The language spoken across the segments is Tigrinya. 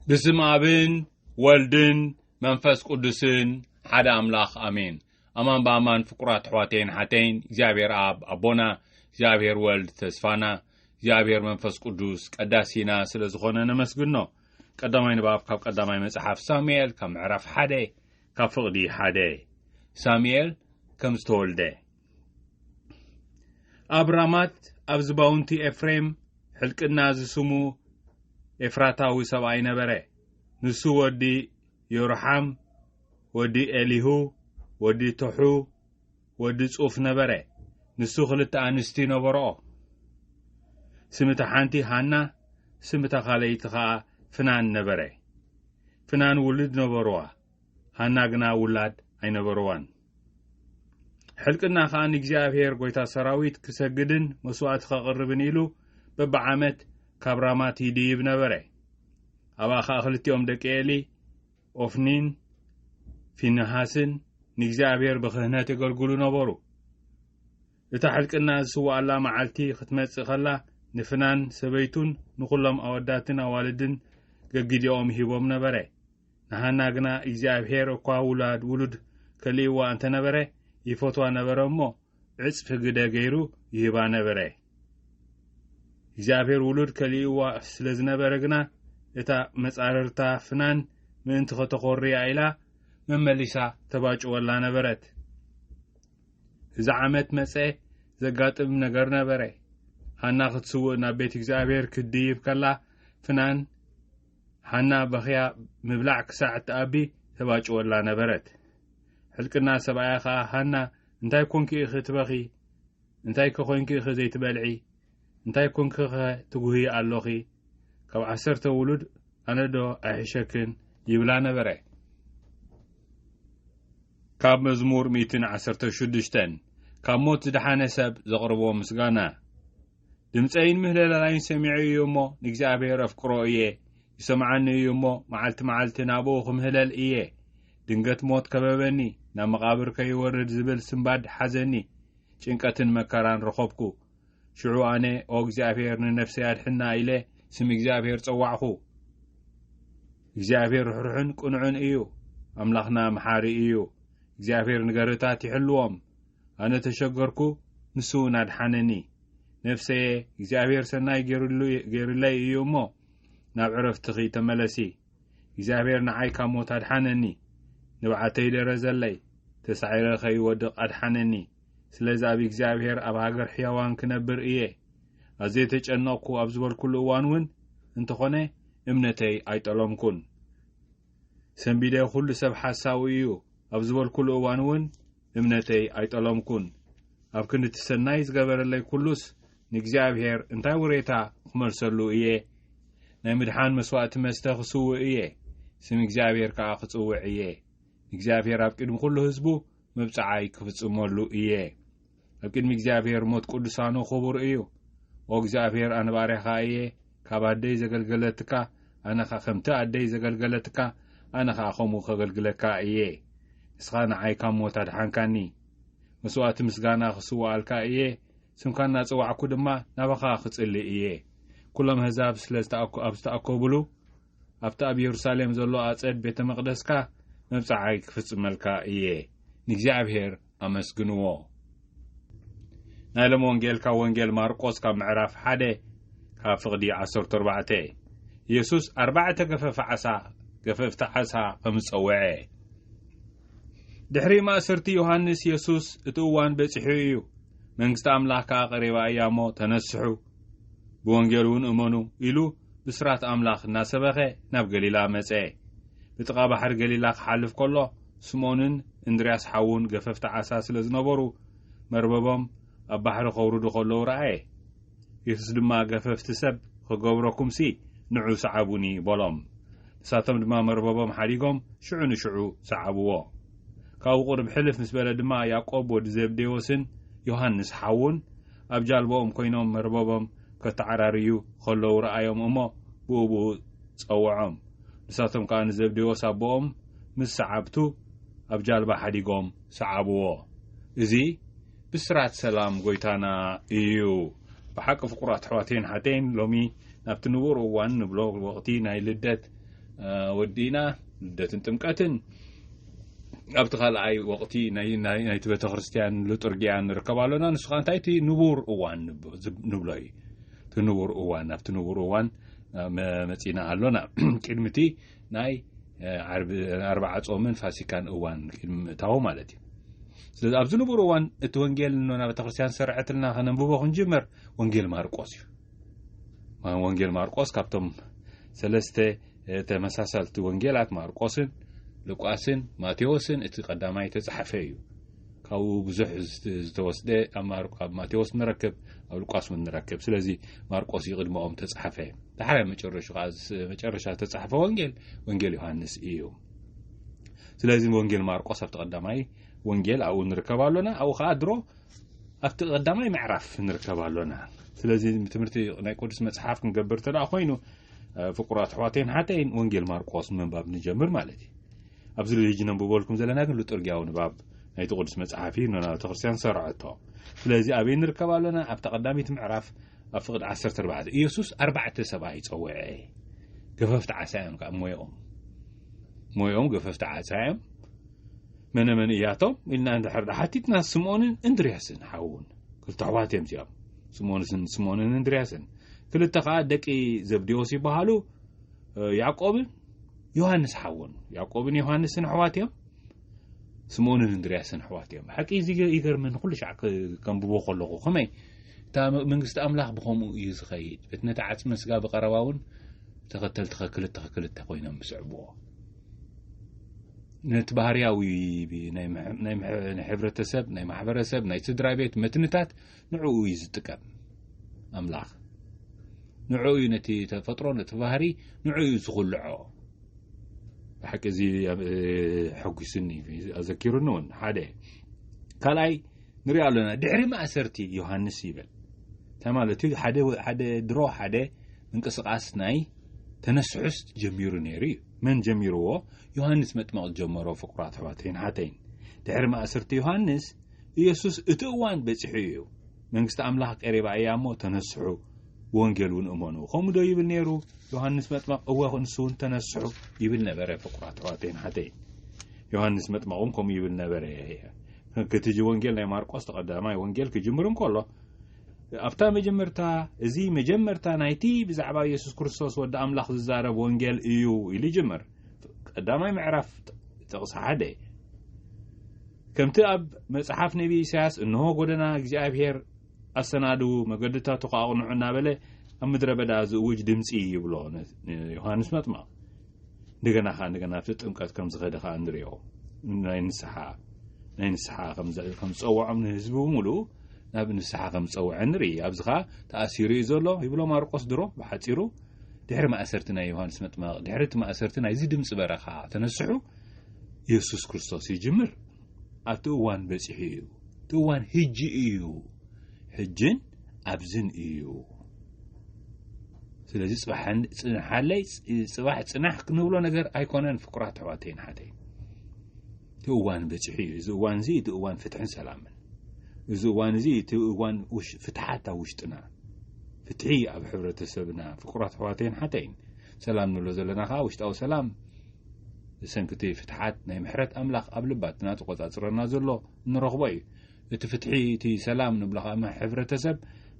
ብስም ኣብን ወልድን መንፈስ ቅዱስን ሓደ ኣምላኽ ኣሜን። ኣማን ብኣማን ፍቁራት ኣሕዋተይን ሓተይን እግዚኣብሔር ኣብ ኣቦና እግዚኣብሔር ወልድ ተስፋና እግዚኣብሔር መንፈስ ቅዱስ ቀዳሲና ስለ ዝኾነ ነመስግኖ። ቀዳማይ ንባብ ካብ ቀዳማይ መጽሓፍ ሳሙኤል ካብ ምዕራፍ ሓደ ካብ ፍቕዲ ሓደ ሳሙኤል ከም ዝተወልደ ኣብ ራማት ኣብ ዝባውንቲ ኤፍሬም ሕልቅና ዝስሙ ኤፍራታዊ ሰብኣይ ነበረ። ንሱ ወዲ ዮርሓም፣ ወዲ ኤሊሁ፣ ወዲ ቶሑ፣ ወዲ ጹፍ ነበረ። ንሱ ክልተ ኣንስቲ ነበርኦ። ስም እታ ሓንቲ ሃና፣ ስም እታ ካልኣይቲ ኸኣ ፍናን ነበረ። ፍናን ውሉድ ነበርዋ፣ ሃና ግና ውላድ ኣይነበርዋን። ሕልቅና ከኣ ንእግዚኣብሔር ጐይታ ሰራዊት ክሰግድን መስዋእቲ ከቕርብን ኢሉ በብዓመት ካብ ራማት ይድይብ ነበረ። ኣብኣ ከኣ ክልቲኦም ደቂ ኤሊ ኦፍኒን ፊንሃስን ንእግዚኣብሔር ብክህነት የገልግሉ ነበሩ። እታ ሕልቅና ዝስዋኣላ መዓልቲ ክትመጽእ ከላ ንፍናን ሰበይቱን ንዅሎም ኣወዳትን ኣዋልድን ገጊዲኦም ሂቦም ነበረ። ንሃና ግና እግዚኣብሄር እኳ ውላድ ውሉድ ከሊእዋ እንተ ነበረ ይፈትዋ ነበረ እሞ ዕጽፊ ግደ ገይሩ ይህባ ነበረ። እግዚኣብሄር ውሉድ ከሊእዋ ስለ ዝነበረ ግና እታ መጻርርታ ፍናን ምእንቲ ከተኾርያ ኢላ መመሊሳ ተባጭወላ ነበረት። እዚ ዓመት መጸ ዘጋጥም ነገር ነበረ። ሃና ክትስውእ ናብ ቤት እግዚኣብሄር ክትድይብ ከላ ፍናን ሃና በኽያ ምብላዕ ክሳዕ እትኣቢ ተባጭወላ ነበረት። ሕልቅና ሰብኣያ ኸኣ፣ ሃና፣ እንታይ ኰንኪ ኢኺ ትበኺ? እንታይከ ዄንኪ ኢኺ ዘይትበልዒ? እንታይ ኰንኪኸ ትጕህዪ ኣሎኺ? ካብ ዓሰርተ ውሉድ ኣነዶ ኣይሕሸክን? ይብላ ነበረ። ካብ መዝሙር ሚእትን ዓሰርተ ሽዱሽተን ካብ ሞት ዝደሓነ ሰብ ዘቕርቦ ምስጋና። ድምጸይን ምህለላላይን ሰሚዑ እዩ እሞ ንእግዚኣብሔር ኣፍቅሮ እየ ይሰምዓኒ እዩ እሞ መዓልቲ መዓልቲ ናብኡ ክምህለል እየ ድንገት ሞት ከበበኒ ናብ መቓብር ከይወርድ ዝብል ስምባድ ሓዘኒ ጭንቀትን መከራን ረኸብኩ ሽዑ ኣነ ኦ እግዚኣብሔር ንነፍሰይ ኣድሕና ኢለ ስም እግዚኣብሔር ጸዋዕኹ እግዚኣብሔር ርሕሩሕን ቅኑዕን እዩ ኣምላኽና መሓሪ እዩ እግዚኣብሔር ንገርታት ይሕልዎም ኣነ ተሸገርኩ ንሱ ውን ኣድሓነኒ ነፍሰየ እግዚኣብሔር ሰናይ ገይርሉ ገይርለይ እዩ እሞ ናብ ዕረፍትኺ ተመለሲ እግዚኣብሔር ንዓይ ካብ ሞት ኣድሓነኒ ንብዓተይ ደረዘለይ ተሳዒረ ከይወድቕ ኣድሓነኒ ስለዚ ኣብ እግዚኣብሔር ኣብ ሃገር ሕያዋን ክነብር እየ ኣዘይ ተጨነቕኩ ኣብ ዝበልኩሉ እዋን እውን እንተኾነ እምነተይ ኣይጠለምኩን ሰንቢደ ኩሉ ሰብ ሓሳዊ እዩ ኣብ ዝበልኩሉ እዋን እውን እምነተይ ኣይጠለምኩን። ኣብ ክንዲ እቲ ሰናይ ዝገበረለይ ኩሉስ ንእግዚኣብሔር እንታይ ውሬታ ክመልሰሉ እየ? ናይ ምድሓን መስዋእቲ መስተ ክስውእ እየ፣ ስም እግዚኣብሔር ከኣ ክጽውዕ እየ። ንእግዚኣብሔር ኣብ ቅድሚ ኩሉ ህዝቡ መብጽዓይ ክፍጽመሉ እየ። ኣብ ቅድሚ እግዚኣብሔር ሞት ቅዱሳኑ ክቡር እዩ። ኦ እግዚኣብሔር ኣነ ባርያኻ እየ፣ ካብ ኣደይ ዘገልገለትካ ኣነ ከ ከምቲ ኣደይ ዘገልገለትካ ኣነ ከኣ ከምኡ ከገልግለካ እየ ንስካ ንዓይ ካብ ሞት ኣድሓንካኒ መስዋእቲ ምስጋና ክስውኣልካ እየ ስምካ እናጸዋዕኩ ድማ ናባካ ክጽሊ እየ ኩሎም ኣህዛብ ስለ ኣብ ዝተኣከብሉ ኣብቲ ኣብ የሩሳሌም ዘሎ ኣጸድ ቤተ መቕደስካ መብጽዓይ ክፍጽመልካ እየ። ንእግዚኣብሔር ኣመስግንዎ። ናይ ሎም ወንጌልካ ወንጌል ማርቆስ ካብ ምዕራፍ ሓደ ካብ ፍቕዲ ዓሰርተ ኣርባዕተ የሱስ ኣርባዕተ ገፈፍ ዓሳ ገፈፍቲ ዓሳ ከም ዝጸውዐ ድሕሪ ማእሰርቲ ዮሃንስ የሱስ እቲ እዋን በጺሑ እዩ መንግስቲ ኣምላኽ ከኣ ቀሪባ እያ እሞ ተነስሑ ብወንጌል እውን እመኑ ኢሉ ብስራት ኣምላኽ እናሰበኸ ናብ ገሊላ መጸ። ብጥቓ ባሕሪ ገሊላ ክሓልፍ ከሎ፣ ስምኦንን እንድርያስ ሓዉን ገፈፍቲ ዓሳ ስለ ዝነበሩ፣ መርበቦም ኣብ ባሕሪ ከውርዱ ከለዉ ረኣየ። የሱስ ድማ ገፈፍቲ ሰብ ኽገብረኩምሲ፣ ንዑ ሰዓቡኒ በሎም። ንሳቶም ድማ መርበቦም ሓዲጎም ሽዑ ንሽዑ ሰዓብዎ። ካብኡ ቁሩብ ሕልፍ ምስ በለ ድማ ያእቆብ ወዲ ዘብዴዎስን ዮሃንስ ሓዉን ኣብ ጃልባኦም ኮይኖም መርበቦም ከተዓራርዩ ኸለዉ ረኣዮም እሞ ብኡ ብኡ ጸውዖም። ንሳቶም ከኣ ንዘብዴዎስ ኣቦኦም ምስ ሰዓብቱ ኣብ ጃልባ ሓዲጎም ሰዓብዎ። እዚ ብስራት ሰላም ጐይታና እዩ። ብሓቂ ፍቁራት ኣሕዋተይን ኣሓተይን ሎሚ ናብቲ ንቡር እዋን ንብሎ ወቕቲ ናይ ልደት ወዲእና ልደትን ጥምቀትን፣ ኣብቲ ካልኣይ ወቕቲ ናይቲ ቤተክርስትያን ልጡርጊያ ንርከብ ኣሎና ንሱ ከዓ እንታይ እቲ ንቡር እዋን ንብሎ እዩ እቲ ንቡር እዋን ኣብቲ ንቡር እዋን መፂና ኣሎና ቅድሚ እቲ ናይ ኣርባዓ ፆምን ፋሲካን እዋን ቅድሚ ምእታዊ ማለት እዩ ስለዚ ኣብዚ ንቡር እዋን እቲ ወንጌል ኖና ቤተክርስትያን ዝሰረዐትልና ከነንብቦ ክንጅመር ወንጌል ማርቆስ እዩ ወንጌል ማርቆስ ካብቶም ሰለስተ ተመሳሳልቲ ወንጌላት ማርቆስን ሉቃስን ማቴዎስን እቲ ቀዳማይ እተጸሓፈ እዩ። ካብኡ ብዙሕ ዝተወስደ ኣብ ማቴዎስ ንረክብ፣ ኣብ ሉቃስ እውን ንረክብ። ስለዚ ማርቆስ እዩ ቅድመኦም ተጻሓፈ። ዳሕራይ መጨረሹ ከዓ መጨረሻ ዝተጻሓፈ ወንጌል ወንጌል ዮሃንስ እዩ። ስለዚ ወንጌል ማርቆስ ኣብቲ ቀዳማይ ወንጌል ኣብኡ ንርከብ ኣሎና ኣብኡ ከዓ ድሮ ኣብቲ ቀዳማይ ምዕራፍ ንርከብ ኣሎና ስለዚ ትምህርቲ ናይ ቅዱስ መፅሓፍ ክንገብር እንተ ኮይኑ ፍቁራት ኣሕዋተይን ሓተይን ወንጌል ማርቆስ ምንባብ ንጀምር ማለት እዩ ኣብዚ ልልጅ ነንብበልኩም ዘለና ግን ልጡርጊያዊ ንባብ ናይቲ ቅዱስ መጽሓፍ እዩ ንና ቤተ ክርስትያን ሰርዐቶ ስለዚ ኣበይ ንርከብ ኣሎና ኣብታ ቀዳሚት ምዕራፍ ኣብ ፍቅዲ 14 ኢየሱስ ኣርባዕተ ሰብኣይ ጸውዐ ገፈፍቲ ዓሳ እዮም ከዓ ሞኦም ሞኦም ገፈፍቲ ዓሳ እዮም መነ መን እያቶም ኢልና እንድሕር ሓቲትና ስምኦንን እንድርያስን ሓውን ክልተ ኣሕዋት እዮም እዚኦም ስሞንስን ስሞንን እንድርያስን ክልተ ከኣ ደቂ ዘብዴዎስ ይበሃሉ ያዕቆብን ዮሃንስ ሓውን ያዕቆብን ዮሃንስን ኣሕዋት እዮም ስምኦንን እንድርያስን ኣሕዋት እዮም ሓቂ እዚ ይገርመኒ ኩሉ ሻዕ ከንብቦ ከለኹ ከመይ እታ መንግስቲ ኣምላኽ ብከምኡ እዩ ዝኸይድ እቲ ነቲ ዓፅሚ ስጋ ብቀረባ እውን ተኸተልቲ ከክልተ ከክልተ ኮይኖም ዝስዕብዎ ነቲ ባህርያዊ ናይ ሕብረተሰብ ናይ ማሕበረሰብ ናይ ስድራ ቤት መትንታት ንዕኡ እዩ ዝጥቀም ኣምላኽ ንዕኡ እዩ ነቲ ተፈጥሮ ነቲ ባህሪ ንዕኡ እዩ ዝኹልዖ ብሓቂ እዚ ሕጒስኒ ኣዘኪሩኒ እውን ሓደ ካልኣይ ንሪኦ ኣለና ድሕሪ ማእሰርቲ ዮሃንስ ይብል እንታይ ማለት እዩ ሓደ ድሮ ሓደ ምንቅስቃስ ናይ ተነስሑስ ጀሚሩ ነይሩ እዩ መን ጀሚርዎ ዮሃንስ መጥመቕ ዝጀመሮ ፍቁራት ኣሕዋተይን ሓተይን ድሕሪ ማእሰርቲ ዮሃንስ ኢየሱስ እቲ እዋን በጺሑ ኢዩ፣ መንግስቲ ኣምላኽ ቀሪባ ኢያ እሞ ተነስሑ፣ ብወንጌል እውን እመኑ ከምኡዶ ይብል ነይሩ ዮሃንስ መጥመቕ? እወ ንሱ እውን ተነስሑ ይብል ነበረ። ፍቁራት ኣሕዋተይን ኣሓተይን ዮሃንስ መጥመቕ እውን ከምኡ ይብል ነበረ። ክቲጂ ወንጌል ናይ ማርቆስ ተቐዳማይ ወንጌል ክጅምር እንከሎ ኣብታ መጀመርታ እዚ መጀመርታ ናይቲ ብዛዕባ ኢየሱስ ክርስቶስ ወዲ ኣምላኽ ዝዛረብ ወንጌል እዩ ኢሉ ይጅምር። ቀዳማይ ምዕራፍ ጥቕሲ ሓደ ከምቲ ኣብ መጽሓፍ ነብዪ ኢሳያስ እንሆ ጐደና እግዚኣብሔር ኣሰናድዉ፣ መገድታቱ ኸኣ ኣቕንዑ እናበለ ኣብ ምድረ በዳ ዝእውጅ ድምጺ ይብሎ ንዮሃንስ መጥምቕ እንደገና ከኣ እንደገና ኣብቲ ጥምቀት ከም ዝኸደ ከኣ ንሪኦ ናይ ንስሓ ናይ ንስሓ ከም ዝጸውዖም ንህዝቢ ብምሉኡ ናብ ንስሓ ከም ዝጸውዐ ንርኢ ኣብዚ ከኣ ተኣሲሩ እዩ ዘሎ ይብሎ ማርቆስ ድሮ ብሓጺሩ ድሕሪ ማእሰርቲ ናይ ዮሃንስ መጥመቕ ድሕሪ እቲ ማእሰርቲ ናይዚ ድምፂ በረኻ ተነስሑ የሱስ ክርስቶስ ይጅምር ኣብቲ እዋን በጺሑ እዩ። እቲ እዋን ህጂ እዩ፣ ሕጅን ኣብዝን እዩ። ስለዚ ጽንሓለይ ጽባሕ ጽናሕ ክንብሎ ነገር ኣይኮነን ፍቁራት ኣሕዋተይን ሓተይ እቲ እዋን በጺሑ እዩ። እዚ እዋን እዚ እቲ እዋን ፍትሕን ሰላምን እዚ እዋን እዚ እቲ እዋን ፍትሓት ኣብ ውሽጥና ፍትሒ ኣብ ሕብረተሰብና ፍቁራት ኣሕዋተይን ሓተይን ሰላም ንብሎ ዘለና ከዓ ውሽጣዊ ሰላም ብሰንኪ እቲ ፍትሓት ናይ ምሕረት ኣምላኽ ኣብ ልባትና ተቖጻጽረና ዘሎ እንረኽቦ እዩ። እቲ ፍትሒ እቲ ሰላም ንብሎ ከኣ ም ሕብረተሰብ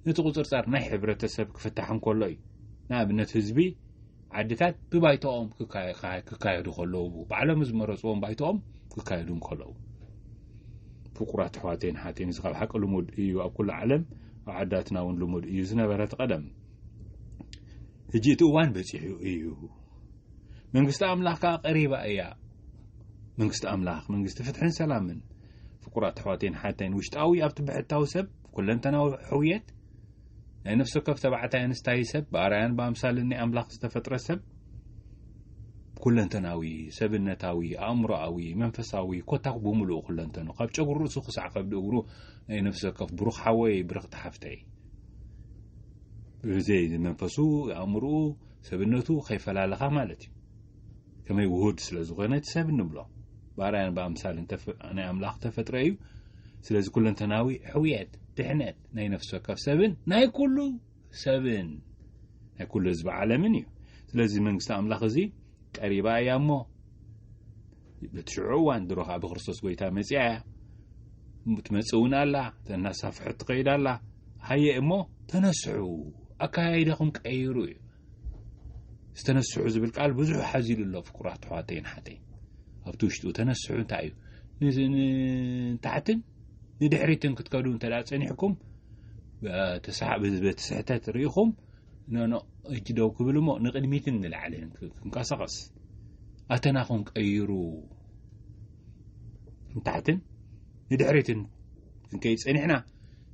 ነቲ ቁጽርጻር ናይ ሕብረተሰብ ክፍታሕ እንከሎ እዩ። ንኣብነት ህዝቢ ዓድታት ብባይቶኦም ክካየዱ ከለዉ ባዕሎም ዝመረጽዎም ባይቶኦም ክካየዱ እንከለዉ ፍቁራት ኣሕዋተይን ሓተይን እዚ ካብ ሓቂ ልሙድ እዩ ኣብ ኩሉ ዓለም ኣብ ዓዳትና እውን ልሙድ እዩ ዝነበረ እቲ ቀደም ሕጂ እቲ እዋን በፂሑ እዩ መንግስቲ ኣምላኽ ከኣ ቀሪባ እያ መንግስቲ ኣምላኽ መንግስቲ ፍትሕን ሰላምን ፍቁራት ኣሕዋተይን ሓተይን ውሽጣዊ ኣብቲ ብሕታዊ ሰብ ኩለንተናዊ ሕውየት ናይ ነፍሲ ወከፍ ተባዕታይ ኣንስታይ ሰብ ብኣርያን ብኣምሳልን ናይ ኣምላኽ ዝተፈጥረ ሰብ ኩለንተናዊ ሰብነታዊ ኣእምሮኣዊ መንፈሳዊ ኮታኩ ብምሉእ ኩለንተኑ ካብ ጨጉሪ ርእሱ ክሳዕ ከብዲ እግሩ ናይ ነፍሲ ወከፍ ብሩኽ ሓወይ ብርኽቲ ሓፍተይ ብዘይ መንፈሱ ኣእምርኡ ሰብነቱ ከይፈላለኻ ማለት እዩ። ከመይ ውሁድ ስለ ዝኾነ እቲ ሰብ እንብሎ። ብኣርኣያን ብኣምሳልን ናይ ኣምላኽ እተፈጥረ እዩ። ስለዚ ኩለንተናዊ ሕውየት፣ ድሕነት ናይ ነፍሲ ወከፍ ሰብን ናይ ኩሉ ሰብን ናይ ኩሉ ህዝቢ ዓለምን እዩ። ስለዚ መንግስቲ ኣምላኽ እዚ ቀሪባ እያ እሞ በቲ ሽዑ እዋን ድሮ ከዓ ብክርስቶስ ጎይታ መፅኣ እያ ትመፅእ እውን ኣላ ተናሳፍሐት ትኸይድ ኣላ ሃየ እሞ ተነስሑ ኣከያይዳኹም ቀይሩ እዩ ዝተነስሑ ዝብል ቃል ብዙሕ ሓዚሉ ኣሎ ፍቁራት ኣሕዋተይን ሓተይ ኣብቲ ውሽጡ ተነስሑ እንታይ እዩ ንታሕትን ንድሕሪትን ክትከዱ እንተ ፀኒሕኩም በቲ ስሕተት ርኢኹም ነንቕድሚት ደው ክብል እሞ ንቕድሚትን ንላዕልን ክንቀሳቐስ ኣተና ክንቀይሩ ንታሕትን ንድሕሪትን ክንከይ ጸኒሕና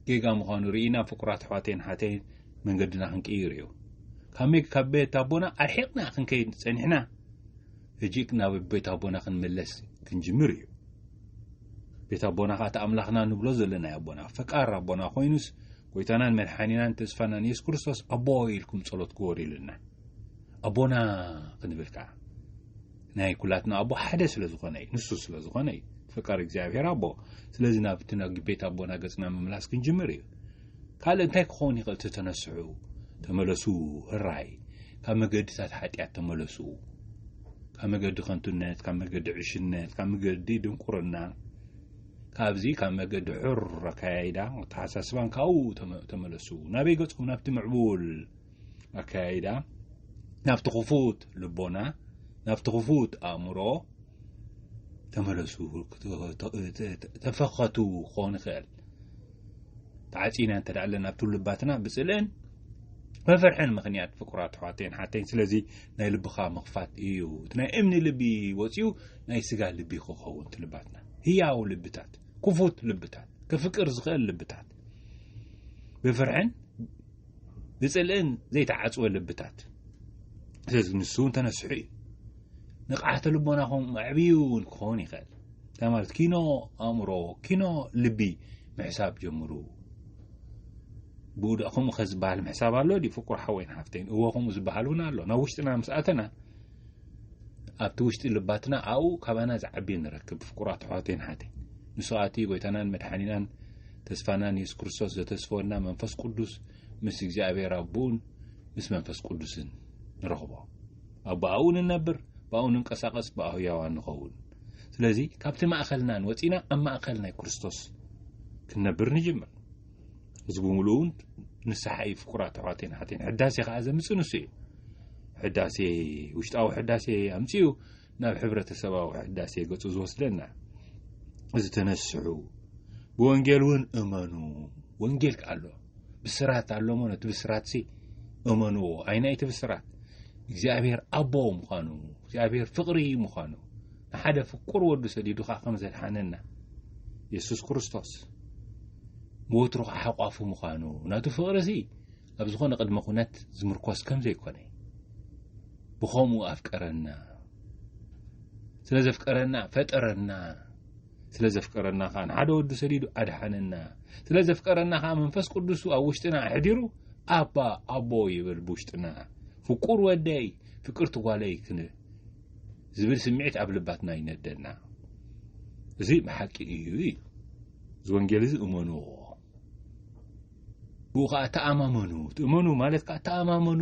ጌጋ ምዃኑ ርኢና ፍቁራት ኣሕዋተይን ሓተይን መንገድና ክንቅይር እዩ ካብ ካብ ቤት ኣቦና ኣርሒቕና ክንከይድ ጸኒሕና ሕጂ ናብ ቤት ኣቦና ክንመለስ ክንጅምር እዩ ቤት ኣቦና ከዓ እቲ ኣምላኽና ንብሎ ዘለና ኣቦና ፈቃር ኣቦና ኮይኑስ ጎይታናን መድሓኒናን ተስፋናን የሱስ ክርስቶስ ኣቦይ ኢልኩም ጸሎት ግበሩልና ኣቦና ክንብል ከኣ ናይ ኩላትና ኣቦ ሓደ ስለ ዝኾነ እዩ ንሱ ስለ ዝኾነ እዩ ፈቃር እግዚኣብሔር ኣቦ ስለዚ ናብቲ ናብ ቤት ኣቦና ገጽና ምምላስ ክንጅምር እዩ ካልእ እንታይ ክኸውን ይኽእል ተተነስዑ ተመለሱ ህራይ ካብ መገድታት ሓጢኣት ተመለሱ ካብ መገዲ ከንቱነት ካብ መገዲ ዕሽነት ካብ መገዲ ድንቁርና ካብዚ ካብ መገዲ ሑር ኣከያይዳ ኣተሓሳስባን ካብኡ ተመለሱ። ናበይ ገጹ? ናብቲ ምዕቡል ኣከያይዳ፣ ናብቲ ክፉት ልቦና፣ ናብቲ ክፉት ኣእምሮ ተመለሱ። ተፈኸቱ ክኸውን ይኽእል ተዓፂና እንተ ኣለና ኣብቲ ልባትና ብፅልእን መፍርሕን ምክንያት ፍቁራት ኣሕዋተይን ሓተይን ስለዚ ናይ ልብኻ ምኽፋት እዩ እቲ ናይ እምኒ ልቢ ወፂኡ ናይ ስጋ ልቢ ክኸውን ትልባትና ህያው ልብታት ክፉት ልብታት ከፍቅር ዝኽእል ልብታት ብፍርሕን ብጽልእን ዘይተዓጽወ ልብታት ስለዚ ንሱ እውን ተነስሑ እዩ ንቕዓተ ልቦናኹም ኣዕብዩ እውን ክኸውን ይኽእል እንታይ ማለት ኪኖ ኣእምሮ ኪኖ ልቢ ምሕሳብ ጀምሩ ብኡ ደኣ ከምኡ ከ ዝበሃል ምሕሳብ ኣሎ ድዩ ፍቁር ሓወይን ሓፍተይን እወ ከምኡ ዝበሃል እውን ኣሎ ናብ ውሽጥና ምስ ኣተና ኣብቲ ውሽጢ ልባትና ኣብኡ ካባና ዝዓቢ ንረክብ ፍቁራት ኣሕዋተይን ሓተይ ንሱ ኣቲ ጎይታናን መድሓኒናን ተስፋናን የሱስ ክርስቶስ ዘተስፈወና መንፈስ ቅዱስ ምስ እግዚኣብሔር ኣቦኡን ምስ መንፈስ ቅዱስን ንረኽቦ ኣብ ብኣኡ ንነብር ብኣኡ ንንቀሳቐስ ብኣ ህያዋን ንኸውን ስለዚ ካብቲ ማእኸልናን ወፂና ኣብ ማእኸል ናይ ክርስቶስ ክንነብር ንጅምር እዚ ብምሉኡ እውን ንስሓ እዩ ፍቁራት ኣሕዋተይን ኣሓተይን ሕዳሴ ከዓ ዘምፅ ንሱ እዩ ሕዳሴ ውሽጣዊ ሕዳሴ ኣምፅኡ ናብ ሕብረተሰባዊ ሕዳሴ ገፁ ዝወስደና እዚ ተነስሑ ብወንጌል እውን እመኑ ወንጌል ኣሎ ብስራት ኣሎ ሞ ነቲ ብስራት ሲ እመንዎ ኣይናይቲ ብስራት እግዚኣብሔር ኣቦ ምዃኑ እግዚኣብሔር ፍቅሪ ምዃኑ ንሓደ ፍቁር ወዱ ሰዲዱካ ከም ዘድሓነና የሱስ ክርስቶስ ብወትሩ ኸኣ ሓቋፉ ምዃኑ፣ ናቱ ፍቕሪሲ ኣብ ዝኾነ ቅድመ ኩነት ዝምርኮስ ከም ዘይኮነ፣ ብኸምኡ ኣፍቀረና፣ ስለ ዘፍቀረና ፈጠረና፣ ስለ ዘፍቀረና ኸኣ ንሓደ ወዱ ሰዲዱ ኣድሓነና፣ ስለ ዘፍቀረና ኸኣ መንፈስ ቅዱሱ ኣብ ውሽጥና ኣሕዲሩ ኣባ ኣቦ ይብል ብውሽጥና ፍቁር ወደይ ፍቅርቲ ጓለይ ክን ዝብል ስምዒት ኣብ ልባትና ይነደና። እዚ ብሓቂ እዩ እዩ እዚ ወንጌል እዚ እመንዎ ብኡ ከዓ ተኣማመኑ ትእመኑ ማለት ከዓ ተኣማመኑ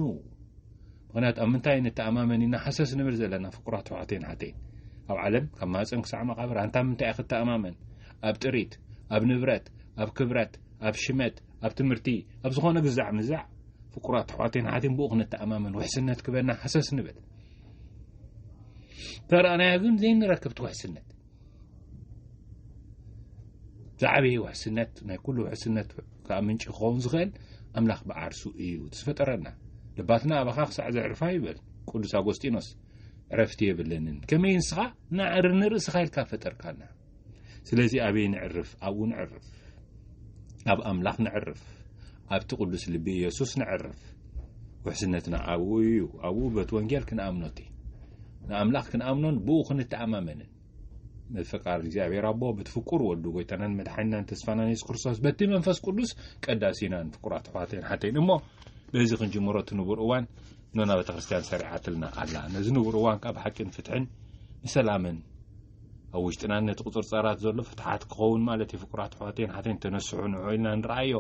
ምክንያቱ ኣብ ምንታይ ንተኣማመን ኢና ሓሰስ ንብል ዘለና ፍቁራት ኣሕዋተይን ሓተይን ኣብ ዓለም ካብ ማፀን ክሳዕ መቃብር ኣንታ ምንታይ እያ ክተኣማመን ኣብ ጥሪት ኣብ ንብረት ኣብ ክብረት ኣብ ሽመት ኣብ ትምህርቲ ኣብ ዝኾነ ግዛዕ ምዛዕ ፍቁራት ኣሕዋተይን ሓተይን ብኡ ክንተኣማመን ውሕስነት ክበና ሓሰስ ንብል ተረኣናዮ ግን ዘይንረክብቲ ውሕስነት ዝዓበየ ውሕስነት ናይ ኩሉ ውሕስነት ከዓ ምንጪ ክኸውን ዝኽእል ኣምላኽ ብዓርሱ እዩ ዝፈጠረና ልባትና ኣባኻ ክሳዕ ዘዕርፋ ይበል ቅዱስ ኣጎስጢኖስ ዕረፍቲ የብለንን ከመይ ንስኻ ናዕሪ ንርእስኻ ኢልካ ፈጠርካና ስለዚ ኣበይ ንዕርፍ ኣብኡ ንዕርፍ ኣብ ኣምላኽ ንዕርፍ ኣብቲ ቅዱስ ልቢ ኢየሱስ ነዕርፍ። ውሕስነትና ኣብኡ እዩ። ኣብኡ በቲ ወንጌል ክንኣምኖቲ ንኣምላኽ ክንኣምኖን ብኡ ክንተኣማመንን ምፍቃር እግዚኣብሔር ኣቦ በቲ ፍቁር ወዱ ጎይታናን መድሓኒናን ተስፋናን የሱስ ክርስቶስ በቲ መንፈስ ቅዱስ ቀዳሲናን ፍቁራት ኣሕዋተይን ሓተይን እሞ በዚ ክንጅምሮ እቲ ንቡር እዋን ኖና ቤተ ክርስቲያን ሰሪዓትልና ኣላ ነዚ ንቡር እዋን ካብ ሓቂን ፍትሕን ንሰላምን ኣብ ውሽጥናን ነቲ ቁፅርፃራት ዘሎ ፍትሓት ክኸውን ማለት እዩ ፍቁራት ኣሕዋተይን ሓተይን ተነስሑ ንዑ ኢልና ንረኣዮ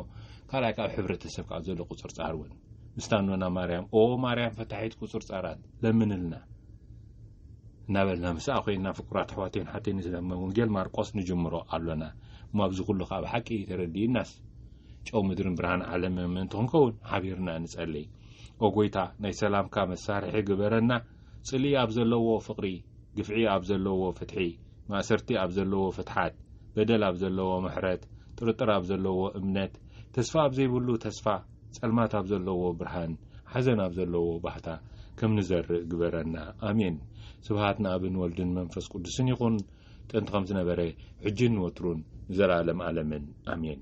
ካልኣይ ካብ ሕብረተሰብ ካብ ዘሎ ቁፅርፃር እውን ምስታ ኖና ማርያም ኦ ማርያም ፈታሒት ቁፅርፃራት ለምንልና እናበልና ምስኣ ኮይና ፍቁራት ኣሕዋተይን ሓተይን ስለመ ወንጌል ማርቆስ ንጅምሮ ኣሎና እሞ ኣብዚ ኩሉ ካብ ሓቂ ተረዲእናስ ጨው ምድርን ብርሃን ዓለም ምእንቲ ክንከውን ሓቢርና ንጸልይ ኦ ጎይታ ናይ ሰላምካ መሳርሒ ግበረና ጽልኢ ኣብ ዘለዎ ፍቕሪ፣ ግፍዒ ኣብ ዘለዎ ፍትሒ፣ ማእሰርቲ ኣብ ዘለዎ ፍትሓት፣ በደል ኣብ ዘለዎ ምሕረት፣ ጥርጥር ኣብ ዘለዎ እምነት፣ ተስፋ ኣብ ዘይብሉ ተስፋ፣ ጸልማት ኣብ ዘለዎ ብርሃን፣ ሓዘን ኣብ ዘለዎ ባህታ ከም ንዘርእ ግበረና። ኣሜን። ስብሃት ንኣብን ወልድን መንፈስ ቅዱስን ይኹን፣ ጥንቲ ከም ዝነበረ፣ ሕጂን ንወትሩን ንዘለኣለም ኣለምን። ኣሜን።